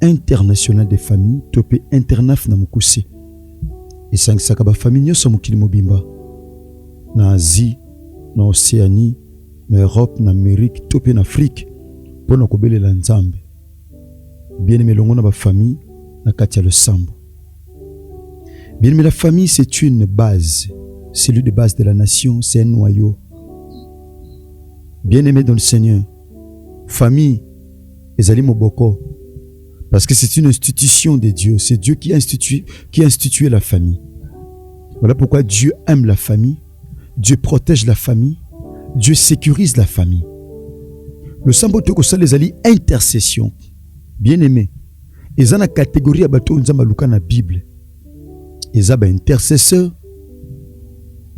international de famille to mpe internaf na mokuse esangisaka bafamille nyonso ya mokili mobimba na asie na oceanie na europe na amerike to mpe na afrike mpo na kobelela nzambe bieneme elongo na bafamille na kati ya losambo bieneme la famille c'est une base celui de base de la nation c'est un noyau bien aimé dans le seigneur Famille ezali moboko parce que c'est une institution de Dieu. C'est Dieu qui institue, qui institue la famille. Voilà pourquoi Dieu aime la famille, Dieu protège la famille, Dieu sécurise la famille. Le sambo tokosala ezali intercession. Bien aimé, eza na catégorie ya bato oyo Nzambe aluka na Bible. eza ba intercesseur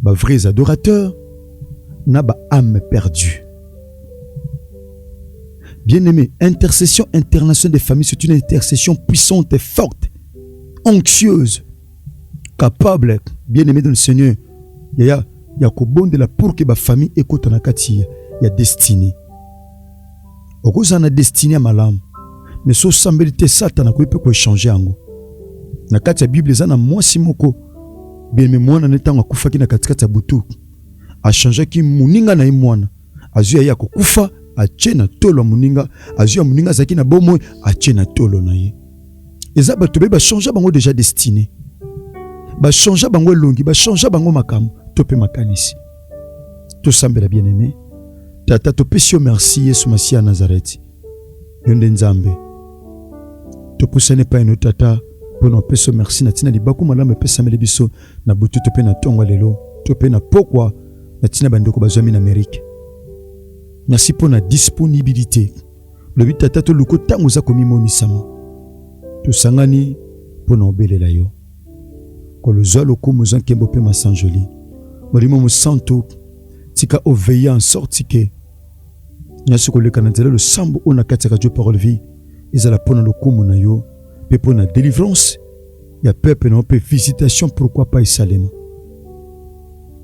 ba vrais adorateur na ba ame perdue bien aimé intercession internationale des familles c'est une intercession puissante et forte anxieuse capable bien aimé dans le seigneur yaya ya kobondela pour que bafamille ekota na kati ya destinée okozala na destine ya malamu mais so osambeli te satana akoki mpe koechange yango na kati ya bible eza na mwasi moko bienme mwana ne ntango akufaki na katikati ya butu achangeaki moninga na ye mwana azwi ya ye akokufa atie na tolo ya moninga azwi ya moninga azalaki na bomoi atie na tolo na ye eza bato baye bachangea bango deja destine bachangea bango elongi bachangea bango makambo to mpe makanisi tosambela bien aime tata topesi yo merci yesu masiya ya nazareti yo nde nzambe topusani epai no tata mpo na opeso merci na ntina libaku malamu epesameli biso na butu to mpe na ntongo lelo to mpe na pokwa na ntina bandeko bazwami na amerike merci mpo na disponibilité lobi tata toluka ntango oza komimonisama tosangani mpo na obelela yo Nkolo, zwa lokumu, zwa nkembo mpe masanjoli. Molimo Mosantu, tika oveille en sorte que nyonso koleka na nzela losambo oyo na kati ya Radio Parole Vie ezala mpo na lokumu na yo mpe mpo na delivrance ya peuple na yo mpe visitation pourquoi pas esalema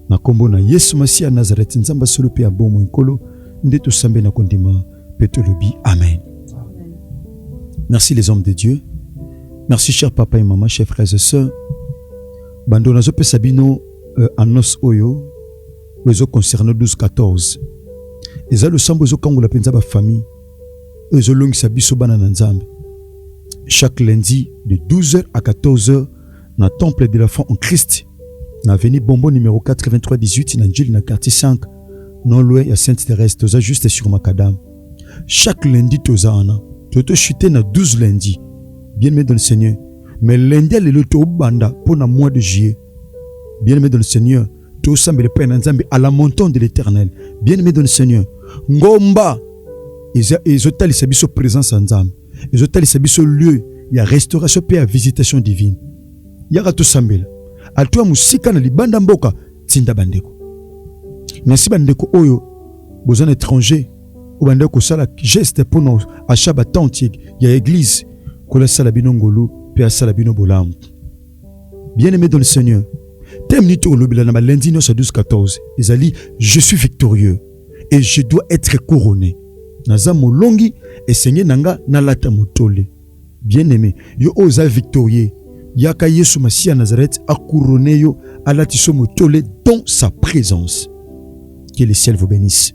na nkombo na Yesu Masiya Nazareti, Nzambe ya solo mpe ya bomoi, Nkolo nde tosambeli na kondima. mpe tolobi amen merci les hommes de dieu merci cher papa et maman chers frères et sœurs bando nazopesa bino euh, annonce oyo oyo ezoconcerne 12 14 eza losambo ezokangola mpenza bafamille oyo ezolongisa biso bana na nzambe chaque lundi de 12h à 14h na Temple de la foi en Christ na avenue Bombo numéro 8318 na Njili na quartier 5 non loin ya Sainte Thérèse toza juste sur Macadam. Chaque lundi toza wana. Toto chuter na 12 lundi. Bien aimé dans le Seigneur. Mais lundi à lelo to banda pour na mois de juillet. Bien aimé dans le Seigneur. To sambele pa na Nzambe à la montant de l'Éternel. Bien aimé dans le Seigneur. Ngomba. Ils ont tali sa biso présence en Nzambe. ezotalisa biso lieu ya restauration mpe ya visitation divine. Yaka tosambela alto ya mosika na libanda mboka. Tinda bandeko. Merci bandeko oyo boza na étranger oyo bandeko kosala geste mpo na acha batente ya eglise kola asala bino ngolu mpe asala bino bolamu. Bien aimé dans le Seigneur, teme nini tokolobela na balundi nyonso ya 12 14 ezali je suis victorieux et je dois être couronné naza molongi esenge na nga nalata motole bien aimé yo oyo oza victorieux yaka yesu masiya nazareth akourone yo alati so motole dans sa présence que le ciel vous bénisse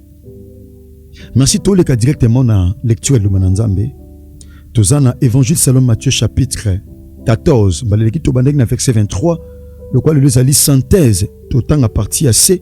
merci toleka directement na lecture ya loma na nzambe toza na évangile salom matthieu chapitre 14 mbaleleki tobandaki na verset 23 lokola lelo ezali synthèse totanga parti ya se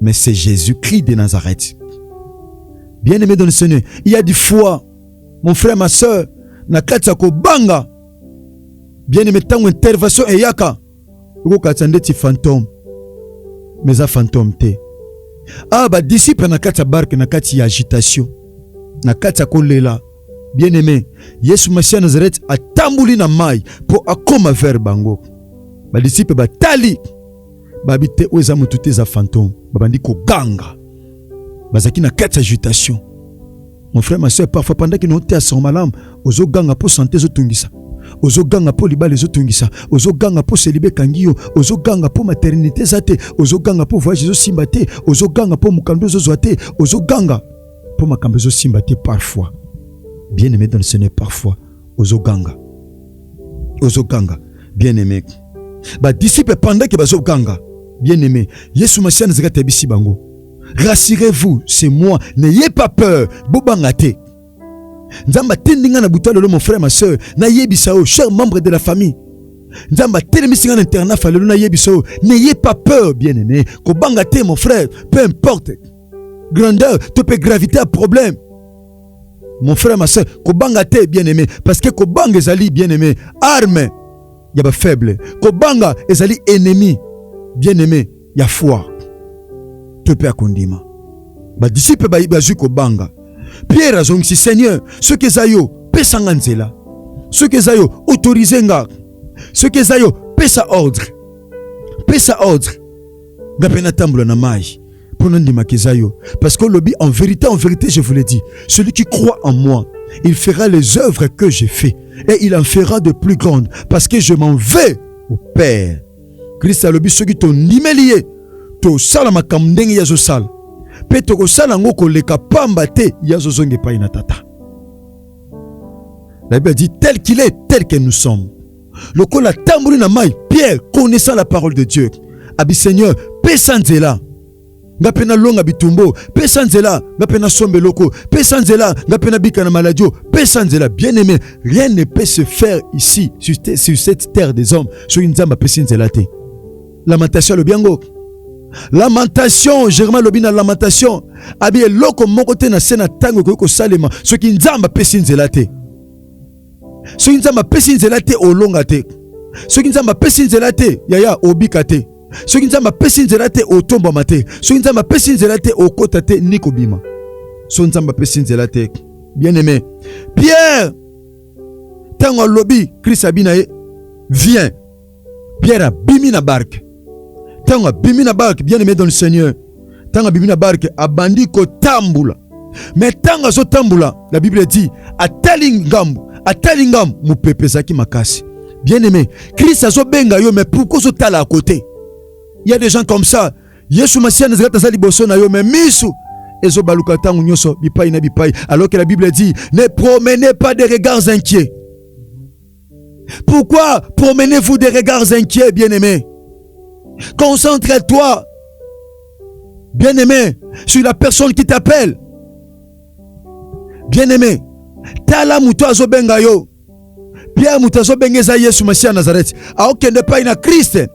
mais c'est Jésus-Christ de Nazareth. Bien aimé dans le Seigneur, il y a du foi, mon frère, ma soeur, na kati ya kobanga bien aimé ntango intervention eyaka okokatisa ndeti fantome mais eza fantome te awa ah, badisiple na kati ya barke na kati ya agitation na kati ya kolela Bien-aime, Yesu Masiya Nazareth atamboli na mai mpo akoma vers bango. Badisiple batali babi te, oyo eza motu te, eza fantome. Babandi koganga, bazalaki na kati ya agitation. Mon frère, ma soeur, parfois pendant que nous te asoma malamu, ozo ganga mpo sante ezotungisa ozoganga mpo libala ezotungisa ozoganga mpo selibe ekangi yo ozoganga mpo maternité eza te ozoganga mpo voyage ezosimba te ozoganga mpo mokando ezozwa te ozoganga mpo makambo ezosimba te parfois bien aimé dans le seigneur parfois ozoganga ozoganga bien aimé badisiple pendake bazoganga bien aimé yesu masiya nazalaki atayebisi bango rassurez-vous c'est moi n'ayez pas peur bobanga te nzambe atindi ngai na buta lelo mon frère ma soeur nayebisa yo cher membre de la famille nzambe atelemisi ngai na internat falelo nayebisa yo n'ayez pas peur bien aimé kobanga te mon frère peu importe grandeur to pe gravité ya problème mon frère ma soeur kobanga te bien aimé parce que kobanga ezali bien aimé arme ya ba faible kobanga ezali ennemi bien aimé ya foi to pe akondima ba disciple ba bazui kobanga Pierre azongisi Seigneur soki eza yo pesa nga nzela soki eza yo autorise nga soki eza yo pesa ordre pesa ordre nga mpe natambola na mayi mpo nandimaka eza yo parce que olobi en vérité en vérité je vous le dis celui qui croit en moi il fera les œuvres que j'ai fait et il en fera de plus grandes parce que je m'en vais au père kristo alobi soki tondimeli ye tosala makambo ndenge ye azosala mpe tokosala yango koleka pamba te ye azozonga epai na tata la bible dit tel qu'il est tel que nous sommes lokola atamboli na mai, Pierre connaissant la parole de Dieu abi Seigneur, pesa nzela nga mpe nalonga bitumbo, pesa nzela nga mpe nasomba eloko, pesa nzela nga mpe nabika na maladio, pesa nzela. Bien aimé, rien ne peut se faire ici sur, sur cette terre des hommes soki Nzambe apesi nzela te. Lamentation alobi yango lamentation germain alobi na lamentation abi eloko moko te na se na ntango ekoki kosalema soki nzambe apesi nzela te soki nzambe apesi nzela te olonga te soki nzambe apesi nzela te yaya obika te soki nzambe apesi nzela te otombwama te soki nzambe apesi nzela te okota te ni kobima soki nzambe apesi nzela te bien aimé pierre ntango alobi krist abi na ye viens Pierre abimi na barke. Ntango abimi na barke, bien aimé dans le Seigneur, ntango abimi na barke abandi kotambula, me ntango azotambula, la Bible dit atali ngambo, atali ngambo, mopepe ezalaki makasi. Bien aimé, Christ azobenga yo, mais pourquoi ozotala à côté? Il y a des gens comme ça. Yesu Masiya nazali taza liboso na yo, mais misu ezobaluka ntango nyonso bipai na bipai, alors que la Bible dit ne promenez pas des regards inquiets Pourquoi promenez-vous des regards inquiets, bien-aimé Concentre-toi, bien-aimé, sur la personne qui t'appelle. Bien-aimé, tala moto azobenga yo. Pierre moto azobenga eza Yesu Masiya Nazareti. Aokende epai na Kriste.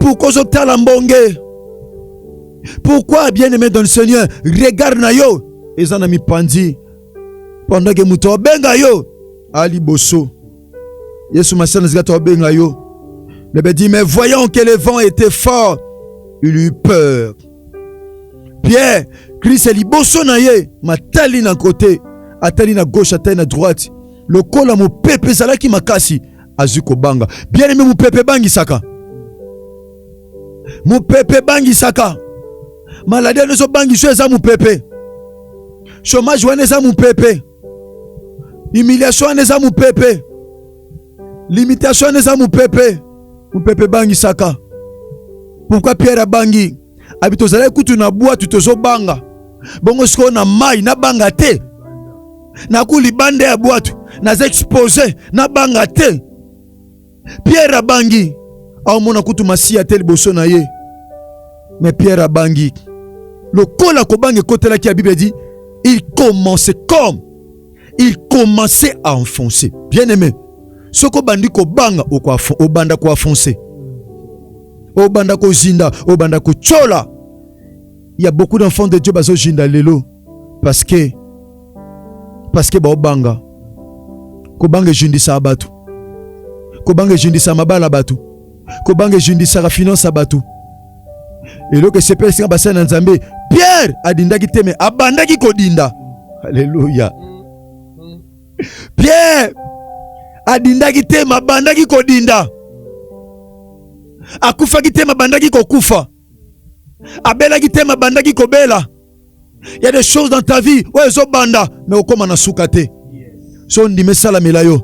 Pourquoi je t'a l'ambongue Pourquoi, bien-aimé dans le Seigneur, regarde na yo et ça n'a mis pandi pendant que mouton benga yo Ali Bosso. Yesu Massia n'a pas benga yo. Le ben dit, mais voyant que le vent était fort, il eut peur. Pierre, Christ Ali Bosso na ye, ma tali na côté, atali na gauche, atali na droite. Le col à mon peuple, ça là qui m'a cassé. azwi kobanga. Bien aime, mopepe ebangisaka, mopepe ebangisaka. Maladi wana ezobangisa yo eza mopepe, chômage wana eza mopepe, humiliation wana eza mopepe, limitation wana eza mopepe. Mopepe ebangisaka. Pourquoi Pierre abangi? Abi tozalaki kutu na bwatu tozobanga, bongo sikoyo na mai nabanga te? naku libanda ya bwatu naza expose na banga te pierre abangi aomona kutu masiya te liboso na ye me pierre abangi lokola kobanga ekotelaki ya bible edi il commence comme il commençait à enfoncer bien aimé soki obandi kobanga obanda koafonse obanda kozinda obanda kotyola ya beaucoup d'enfants de dieu bazozinda lelo parce que parce que baobanga kobanga ejundisaka bato kobanga ejundisaka mabala ya bato kobanga ejundisaka finance ya bato eloko esepelisi nga basali na nzambe pierre adindaki te me abandaki kodinda aleluya pierre adindaki te mabandaki kodinda akufaki te mabandaki kokufa abelaki te ma bandaki kobela il y a des choses dans ta vie oyo ezobanda me okóma na suka te so ondimi esalamela yo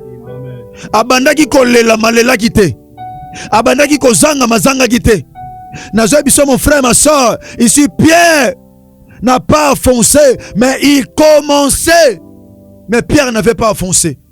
abandaki kolela malelaki te abandaki kozanga mazangaki te nazwa biso mon frère ma soeur ici pierre n'a pas foncé mais il commençait mais pierre n'avait pas foncé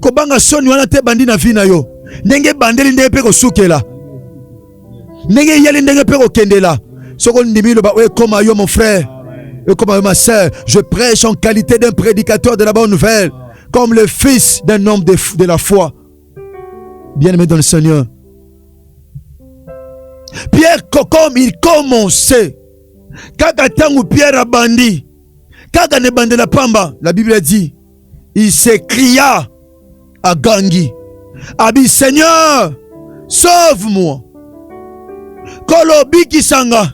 kobanga soni wana te bandi na vie na yo ndenge ebandeli ndenge mpe kosukela ndenge eyeli ndenge mpe kokendela soki ondimi loba oyo ekoma yo mon frère ekoma yo ma sœur je prêche en qualité d'un prédicateur de la bonne nouvelle comme le fils d'un homme de, de la foi bien aimé dans le Seigneur Pierre comme il commençait kaka ntango Pierre abandi kaka na ebandela pamba la Bible a dit il se cria à Gangi, Abi Seigneur, sauve-moi. Kolo bikisanga,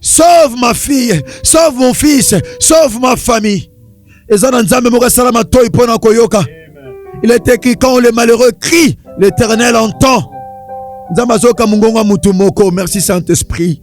sauve ma fille, sauve mon fils, sauve ma famille. Eza na Nzambe moko asala matoi mpo na koyoka. Il est écrit quand les malheureux crient, l'Éternel entend. Nzambe azoka mongongo ya motu moko. Merci Saint-Esprit.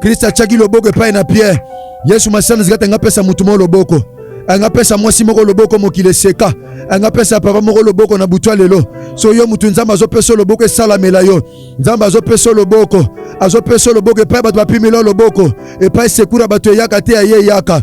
Kristo atiaki loboko epai na Pierre. Yesu Masiya nazika te ngapesa motu moko loboko angapesa mwasi moko loboko mokili eseka angapesa papa moko loboko na butwa lelo so yo motu nzambe azopesa loboko esalamela yo nzambe azopesa loboko azopesa loboko epai bato bapimela loboko epai sekura bato eyaka te aye eyaka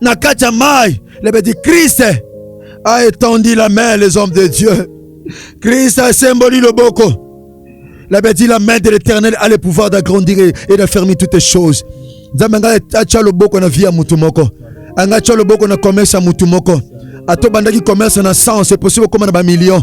na kati ya mai le petit Christ a étendu la main les hommes de Dieu Christ asemboli loboko la petit la main de l'éternel a le pouvoir d'agrandir et de fermer toutes les choses nzambe anga atya loboko na vie ya motu moko anga atya loboko na commerce ya motu moko ato bandaki commerce na sens eposi kokoma na bamillion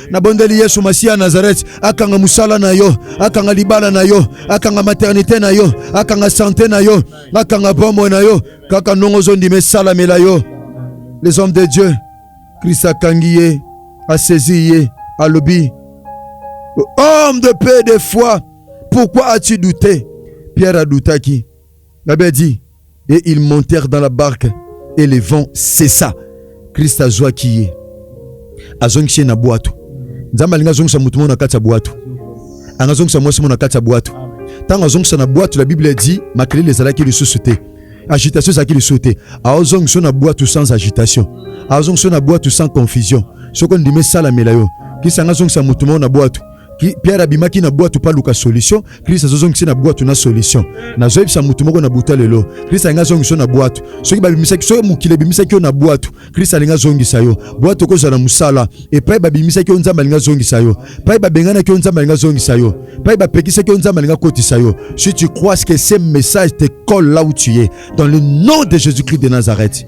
Nabondeli Yesu Masiya Nazareth akanga musala na yo, akanga libala na yo, akanga maternité na yo, akanga santé na yo, akanga bomoi na yo. Kaka ndongo ozondima esalamela yo. Les hommes de Dieu, Christ akangi ye, asezi ye, alobi homme de peu de foi, pourquoi as-tu douté? Pierre adoutaki. La Bible dit et ils montèrent dans la barque et le vent cessa. Christ azwaki ye azongisi ye na bwato. Nzambe alingi azongisa moto moko na kati ya bwato, anga azongisa mwasi moko na kati ya bwato. Ntango azongisa na bwato, la Bible dit makelele ezalaki lisusu te, agitation ezalaki lisusu te. Azongisa yo na bwato sans agitation, azongisa yo na bwato sans confusion. Soko ndimi esalamela yo, kisa anga azongisa moto moko na bwato Pierre abimaki na bwatu pa luka solution, Christ azozongisi na bwatu na solution. Nazoyebisa mutu moko na buta lelo, Christ alingi azongisa yo na bwatu. Soki babimisaki, soki mokili ebimisaki yo na bwatu, Christ alingi azongisa yo. Bwatu okozala na mosala, epai babimisaki yo Nzambe alingi azongisa yo. Epai babenganaki yo Nzambe alingi azongisa yo. Epai bapekisaki yo Nzambe alingi akotisa yo. Si tu crois que ce message te colle là où tu es, dans le nom de Jésus-Christ de Nazareth.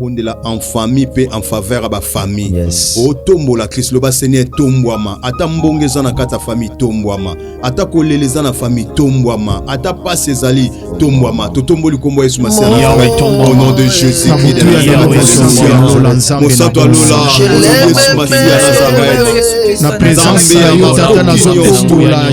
bondela en famille mpe en faveur ya bafamille yes. otombola kristo loba seigneur etombwama ata mbongo eza na kati ya famille etombwama ata kolela eza na famille etombwama ata mpasi ezali tombwama totomboli nkombo ya yesu masiya au nom de jésus mosato ya lola yesu masiya nazareth na presence ya yo tata nazotombola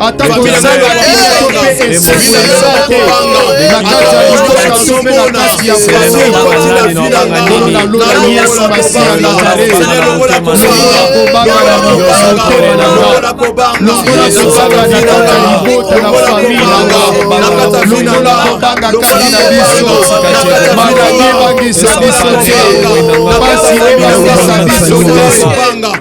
atako ezali bato mpe esengo ya nzambe na kati ya libota to mpe na kati ya mwanakolo na lola yesu masiya nazalelokola kobanga na motema na nga lokola kobanga na kati ya libota na fami na nga lokola kobanga kati na biso maladi ebangisa biso te mpasi ebangisa biso te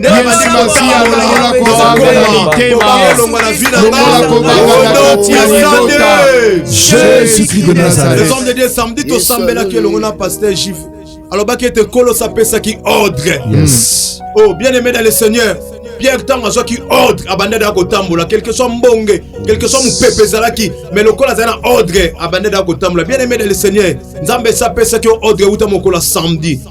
yesu masiya longola kobanga na mitema longola kobanga na kati ya libota jésus christ de nazareth homme de dieu samedi tosambelaki elongo na pasteur juif alobaki ete nkolo sapesaki ordre yes. oh bien aimé dans le seigneur pierre ntango azwaki ordre abandaki ya kotambola quelque soit mbonge quelque soit mopepe ezalaki mais lokola azali na ordre abandaki ya kotambola bien aimé dans le seigneur nzambe esi apesaki yo ordre euta mokolo ya samedi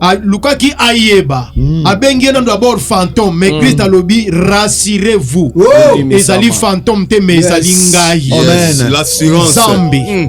alukaki ayeba mm. abengi ye nano dabord fantôme mais mm. christ alobi rassurez vous oh. ezali fantôme te mais ezali yes. ngai yes. zambi mm.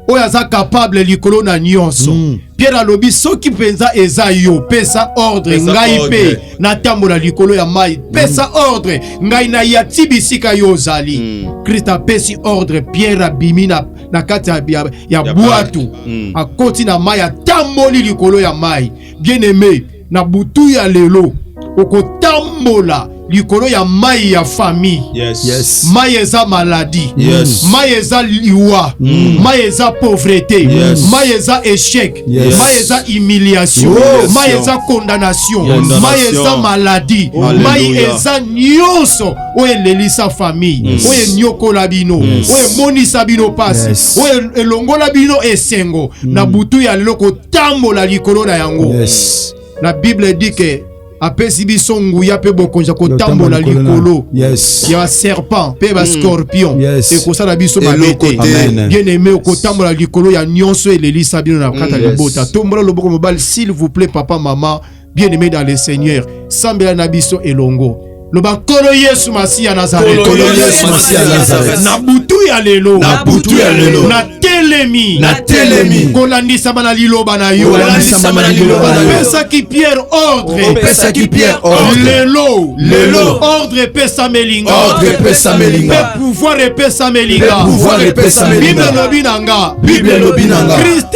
oyo aza capable likolo na nyonso mm. pierre alobi soki mpenza eza yo pesa ordre pesa ngai mpe natambola likolo ya mai mm. pesa mm. ordre ngai naya ti bisika yo ozali mm. krist apesi ordre pierre abimi na na kati ya, ya, ya, ya bwato mm. akoti na mai atamboli likolo ya mai bien aime na butu ya lelo okotambola likolo ya mai ya famille yes. yes. mai eza maladi yes. mai eza liwa mm. mai eza pauvrete yes. mai eza échec yes. mai eza humiliation oh, mai eza condamnation mai eza maladi mai eza nyonso oyo elelisa famille yes. oyo enyokola bino yes. oyo emonisa bino pasi yes. oyo elongola bino esengo mm. na butu ya lelo kotambola likolo na yango yes. la bible dit que apesi biso nguya mpe bokonzi ya kotambola likolo yes. ya baserpent mpe bascorpion mm. yes. ekosala biso mabe te bien aime okotambola likolo ya nyonso elelisa bino na kata mm. libota yes. tombola loboko mobali s'il vous plaît papa mama bien aimé dans le seigneur sambela na biso elongo loba nkolo yesu masiya nazarethna butu ya lelo natelemi natelemi kolandisama na liloba na yo kolandisama na liloba na yo opesaki pierre ordre opesaki pierre ordre lelo lelo ordre epesameli nga ordre epesameli nga pe pouvoir epesameli nga pouvoir epesameli nga bible lobi na nga bible lobi na nga christ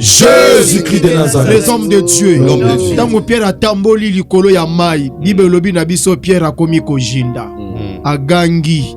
Jésus-Christ de Nazareth. Les hommes de Dieu. Ntango Pierre atamboli likolo ya mai, Bible elobi na biso Pierre akomi kojinda. Mm. Agangi.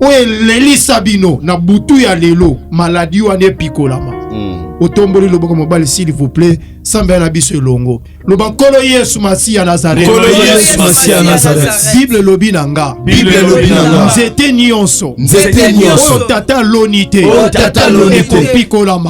oyo elelisa bino na butu ya lelo maladi wana epikolama mm. otomboli loboko mobali s'il vous plaît sambela na biso elongo loba nkolo yesu masi ya nazaretbible elobi na nga nzete nyonso oyo tata aloni te ekopikolama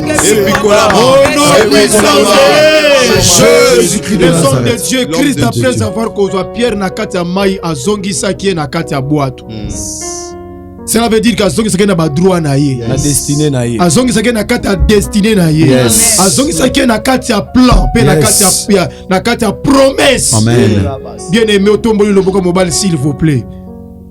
homme de Dieu Christ après avoir kozwa Pierre na kati ya mai azongisaki ye na kati ya bwato hmm. cela veut dire qu'azongisaki na badroit na ye azongisaki na kati ya destine na ye azongisaki na kati ya plan mpe na kati ya promesse bien aimé otomboli loboko mobali s'il vous plaît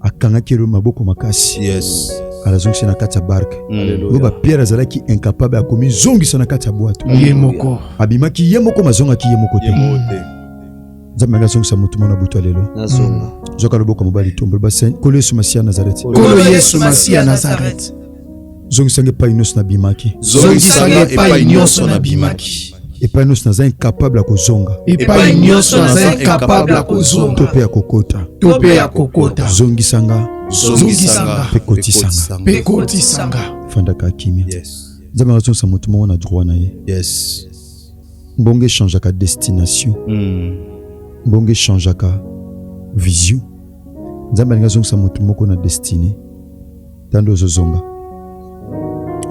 akangaki ye maboko makasi yes. alazongisa na kati ya barke mm. loba pierre azalaki incapable akomizongisa na kati ya bwato ye moko abimaki ye moko mazongaki ye moko te nzambe anga azongisa motu mwana butu ya lelo mm. zoka loboko mobali tombolo base kolo yesu masiya nazareti kolo yesu masiya nazareti zongisanga epai nyonso nabimaki zongisanga epai nyonso nabimaki epai nyonso naza incapable ya kozonga epai nyonso naza incapable ya kozonga to mpe ya kokota to mpe ya kokota zongisanga zongisanga mpe kotisanga mpe kotisanga fandaka kimia nzambe akazongisa moto moko na droit na ye yes mbongo echangeaka destination hmm. mbongo echangeaka vision nzambe alingi azongisa moto moko na destine tando ozozonga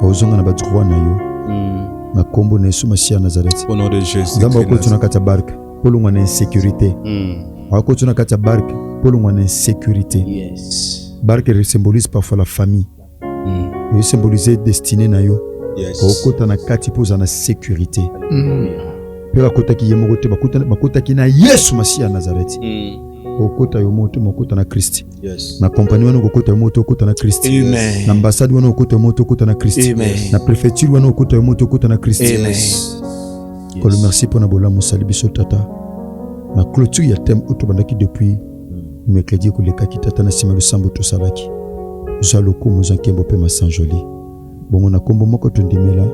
ozonga na ba droit na yo mm. na kombo na Yesu Masiya Nazareth au nom de Jésus nzambe akoti na kati ya barke mpo longwa na insécurité mm. akoti na kati ya barke mpo longwa na insécurité yes. barke symbolise parfois la famille mm. eyo symbolise destiné na yo yes. okota na kati mpo ozala na sécurité mm. mpe bakotaki ye moko te bakotaki na Yesu Masiya Nazareth mm. okota yo moko te mokota na Kristi Yes. na kompani wana okokota yo moto okota na kristo na ambasade wana okota yo moto okota na kristo na prefecture wana okota yo moto okota na kristo kolo merci mpo na bolamu osali biso tata na clôture ya teme oyo tobandaki depuis mercredi ekolekaki tata na nsima losambo tosalaki zwa lokumu zwa nkembo mpe masanjoli Bongo na kombo moko tondimela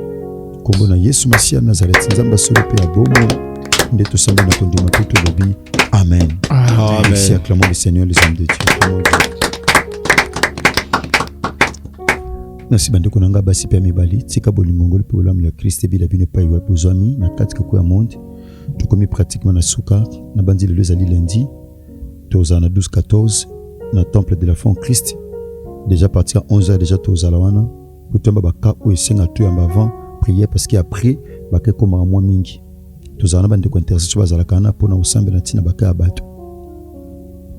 kombo na Yesu Masiya Nazareti, Nzambe ya solo mpe ya bomo, nde tosambi na kondima mpe tolobi amen. Merci, acclamons le Seigneur, les hommes de Dieu. Merci bandeko na ngai basi mpe ya mibali, tika bolingo ngoli mpe bolamu ya Krist ebila bino epai wapi bozwami na kati kako ya monde. Tokomi pratiquement na suka, nabanzi lelo ezali lundi tozala na 12-14 na temple de la foi en christ déjà parti ya 11 heures déjà tozala wana po toyamba baka oyo esenga toyamba avant prière parce que après baka ekomaka mwa mingi tozala na bandeko ya intercession bazalaka wana mpo na kosambela ntina baka ya bato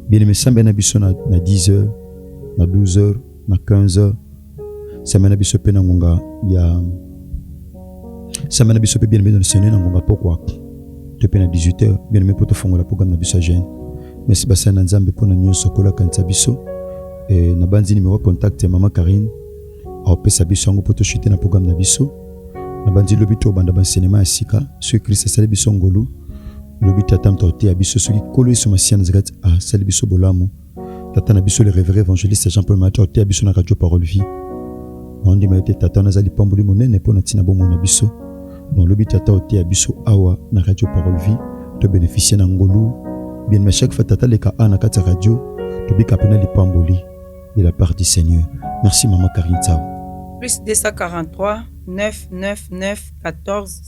bien aimé sambela na biso na, na 10 heures na 12 heures na 15 heures Samba na biso mpe na ngonga ya samba na biso mpe bien bien sene na ngonga pokwa to mpe na 18h bien bien mpo tofongola programme na biso ya jeune. Merci basali na Nzambe mpo na nyonso kolakanisa biso. E, nabanzi nimero contact ya mama Karine aopesa biso yango mpo toshute na programme na biso. Nabanzi lobi tobanda bansenema ya sika soki Kristo asali biso ngolu lobi tata moto ateya biso soki nkolo yesu masiya nazalaki asali biso bolamu tata na biso le révéré évangéliste jean paul mati oteya biso na radio parole vie naondima ete tata wana aza lipamboli monene mpo na ntina bomoi na biso nolobi tata oteya biso awa na radio parole vie tobénéficie na ngolu bien ma chaque fois tata leka a na kati ya radio tobika mpena lipamboli de la part du seigneur merci mama karine tsao plus 243 999 14